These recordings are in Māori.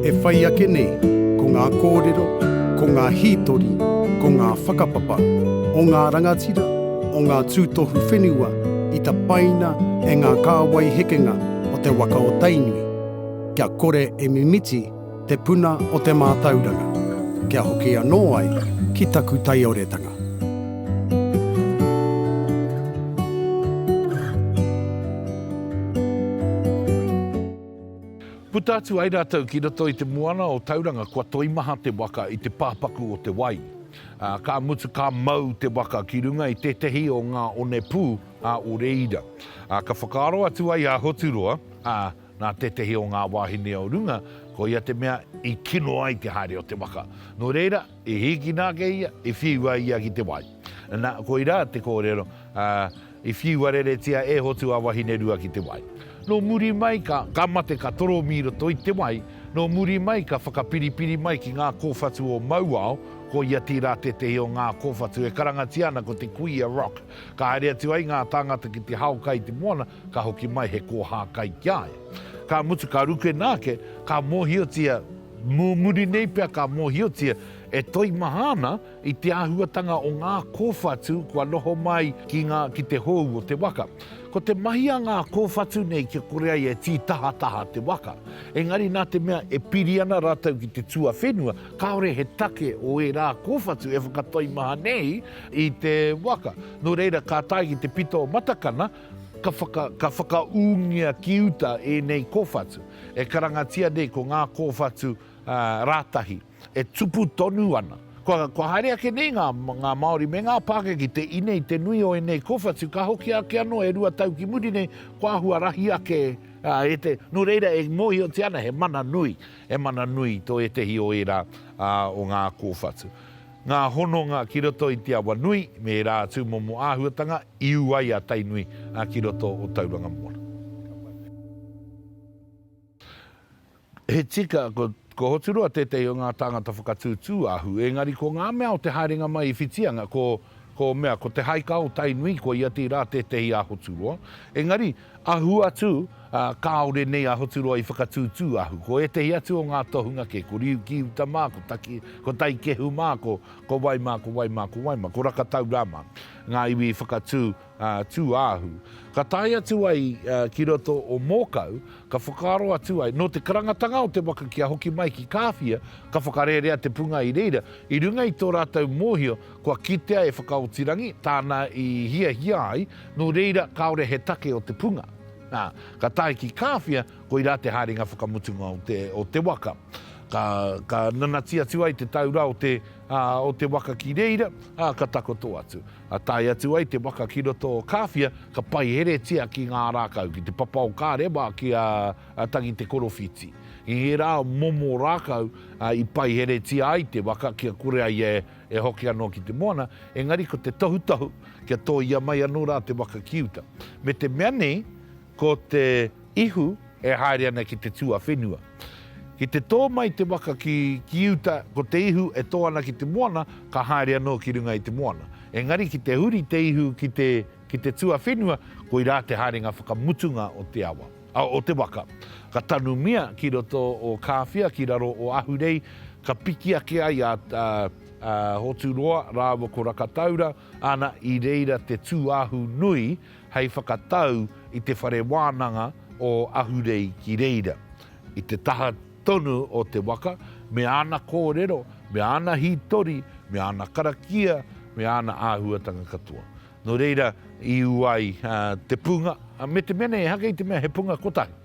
E whai ake nei, ko ngā kōrero, ko ngā hītori, ko ngā whakapapa o ngā rangatira, o ngā tūtohu whenua i tapaina e ngā kāwai hekenga o te waka o Tainui, kia kore e mimiti te puna o te mātauranga, kia hoki anō ai ki taku taioretanga. Puta atu ai rātou ki roto i te moana o Tauranga kua toimaha te waka i te pāpaku o te wai, ā, ka mutu ka mau te waka ki runga i tētehi o ngā onepū a o reira. Ā, ka whakaaro atu ai a Hoturoa, ā, nā tētehi o ngā wāhine o runga, koia te mea i kino ai te haere o te waka. Nō reira, i hīkina ake ia, i whiua ia ki te wai. Nā, koirā te kōrero, ā, I whiua reretia e Hotu a Wahinerua ki te wai. No muri mai ka, ka mate ka toromi roto i te wai, no muri mai ka whakapiripiri mai ki ngā kōwhatu o Mauao, ko ia tīrā tētehi o ngā kōwhatu e karangatia ana ko te Kuia Rock. Ka haere atu ai ngā tāngata ki te hao kai i te moana, ka hoki mai he kōhā kai ki a ia. Ka mutu ka rukena ake, ka mōhiotia, mō muri nei pea ka mōhiotia e toimaha ana, I te āhuatanga o ngā kōwhatu kua noho mai ki ngā ki te hou o te waka. Ko te mahi a ngā kōwhatu nei kia kore ai e tītahataha te waka. Engari nā te mea e piri ana rātou ki te tuawhenua, kāore he take o ērā kōwhatu e whakatoimaha nei i te waka. Nō reira ka tae ki te pito o Matakana, ka whaka, ka whakaūngia ki uta ēnei kōwhatu. E karangatia nei ko ngā kōwhatu, ā, rātahi. e tupu tonu ana. Kua, kua haere ake nei ngā, ngā Māori me ngā Pākehā ki te ine i te nui o ēnei kōwhatu, ka hoki ake anō e rua tau ki muri nei, kua huarahi ake ā, e te, nō reira e mōhiotia ana he mana nui, he mana nui tō ētehi o ērā ā, o ngā kōwhatu. Ngā hononga ki roto i te awa nui me ērā atu momo āhuatanga i ū ai a Tainui ā, ki roto o Tauranga Moana. He tika, ko Hoturoa tētehi o ngā tāngata whakatū tūāhu, ēngari ko ngā mea o te haerenga mai i Whitianga, ko, ko mea, ko Te Haika o Tainui, ko ia tīrā tētehi a Hoturoa. Engari, ahu atu, ā, kāore nei a Hoturoa i whakatū tūāhu. Ko ētehi atu o ngā tohunga kē, ko Riukiuta mā, ko Taki, ko Taikehu mā, ko, ko wai mā, ko wai mā, ko wai mā, ko Rakataurā mā, ngā iwi i whakatū, Tūāhu. Ka tae atu ai ki roto o Mōkau, ka whakaaro atu ai, nō te karangatanga o te waka kia hoki mai ki Kāwhia, ka whakarerea te punga i reira, i runga i tō rātou mōhio kua kitea e Whakaotirangi tāna i hiahia ai, nō reira kāore he take o te punga. Ā, ka tae ki Kāwhia, koirā te haerenga whakamutunga o te waka. Ka nanati atu ai te taura o te waka ki reira, ā, ka takoto atu. A tae atu ai te waka ki roto o Kāwhia, ka paiheretia ki ngā rākau, ki te papa o kā rewa ki a Tangi Te Korowhiti. I ērā momo rākau i paiheretia ai te waka kia kore ai e hoki anō ki te moana, engari ko te tohutohu kia tōia mai anō rā te waka ki uta. Me te mea nei, Ko te ihu e haere ana ki te tuawhenua. Ki te tō mai te waka ki, ki uta, ko te ihu e tō ana ki te moana, ka haere anō ki runga i te moana. Engari ki te huri te ihu ki te, ki te tuawhenua, koirā te haerenga whakamutunga o te awa, a, o te waka. Ka tanumia ki roto o Kāwhia, ki raro o Ahurei, ka piki ake ai a, a, a Hoturoa rāua ko Rakataura, ana, i reira te tūāhu nui hei whakatau i te whare wānanga o Ahurei ki reira, i te taha tonu o te waka, me āna kōrero, me āna hītori, me āna karakia, me āna āhuatanga katoa. Nō reira, i ū ai te punga, me te mea nei, ehake i te mea he punga kotahi,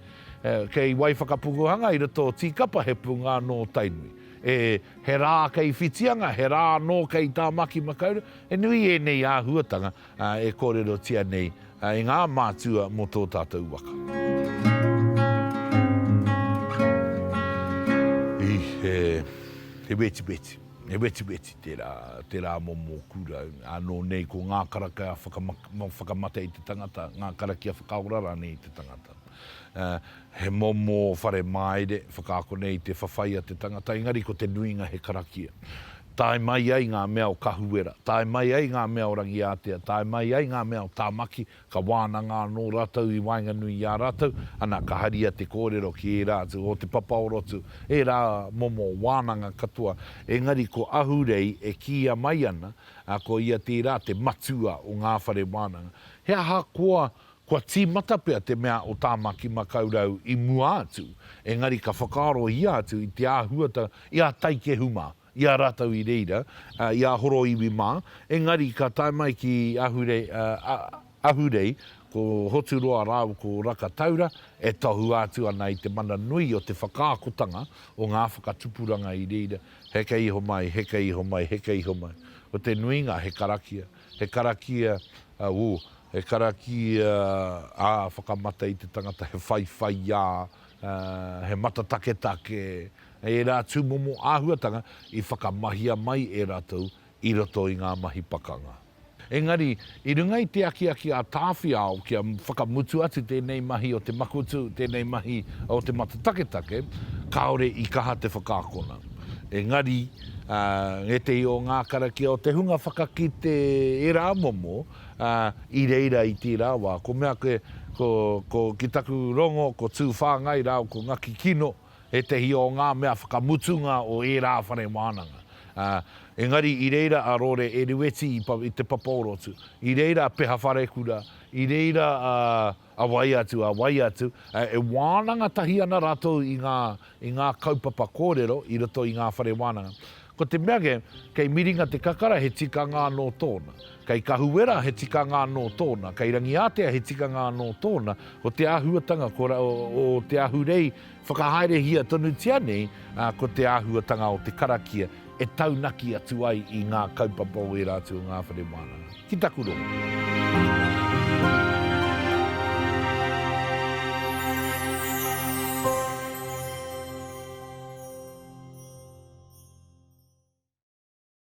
kei wai whakapukuhanga i roto o Tīkapa he punga anō Tainui. E, he rā kei Whitianga, he rā anō kei Tāmaki Makaurau, he nui ēnei āhuatanga e kōrerotia nei e ngā mātua mō tō tātou waka. He wetiweti, he wetiweti tērā, tērā momo kura. Ānō nei ko ngā karakia whakamate i te tangata, ngā karakia whakaora rānei i te tangata. He momo whare māire, whakaakona i te whawhai a te tangata, engari ko te nuinga he karakia. Tae mai ai ngā mea o Kahuwera, tae mai ai ngā mea o Rangiātea, tae mai ai ngā mea o Tāmaki, ka wānanga anō rātou i waenganui i a rātou, ana, ka haria te kōrero ki ērā atu o Te Papaorotu, ērā momo wānanga katoa, engari ko Ahurei e kīia mai ana, ā, ko ia tērā te matua o ngā whare wānanga. He ahakoa Kua tīmata pea te mea o Tāmaki Makaurau i mua atu, engari ka whakaarohia atu i te āhuata i a Taikehu mā, i a rātou i reira, i a Horoiwi mā, engari ka tae mai ki Ahurei, ko Hoturoa rāua ko Rakataura e tohua atu ana i te mana nui o te whakaakotanga o ngā whakatupuranga i reira, heke iho mai, heke iho mai, heke iho mai. Ko te nuinga he karakia, he karakia, woo, He karakia ā whakamata i te tangata, he whaiwhaiā, he matataketake, ērā tūmomo āhuatanga i whakamahia mai e rātou i roto i ngā mahi pakanga. Engari, i runga i te akiaki a Tāwhiao kia whakamutu atu tēnei mahi o te makutu, tēnei mahi o te matataketake, kāore i kaha te whakaakona. Engari, ētehi o ngā karakia o te hunga whakakite ērā momo, ā, i reira i tērā wā, ko mea koe, ko, ko, ki taku rongo, ko Tū Whāngai rāua ko Ngaki Kino, ētehi o ngā mea whakamutunga o ērā whare wānanga. Ā, engari i reira a Rore Erueti i, i te papa o Rotu, i reira a Peha Wharekura, i reira a. A wai atu, a wai atu, e wānanga tahi ana rātou i ngā, i ngā kaupapa kōrero i roto i ngā whare wānanga. Ko te mea kē, kei Miringa te kakara he tikanga anō tōna. Kei Kahuwera he tikanga anō tōna. Kei Rangiātea he tikanga anō tōna. Ko te āhuatanga, ko, o te Ahurei, Whakahaerehia tonutia nei ko te āhuatanga o te karakia e taunaki atu ai i ngā kaupapa o ērā atu o ngā whare wānanga, ki taku rongo.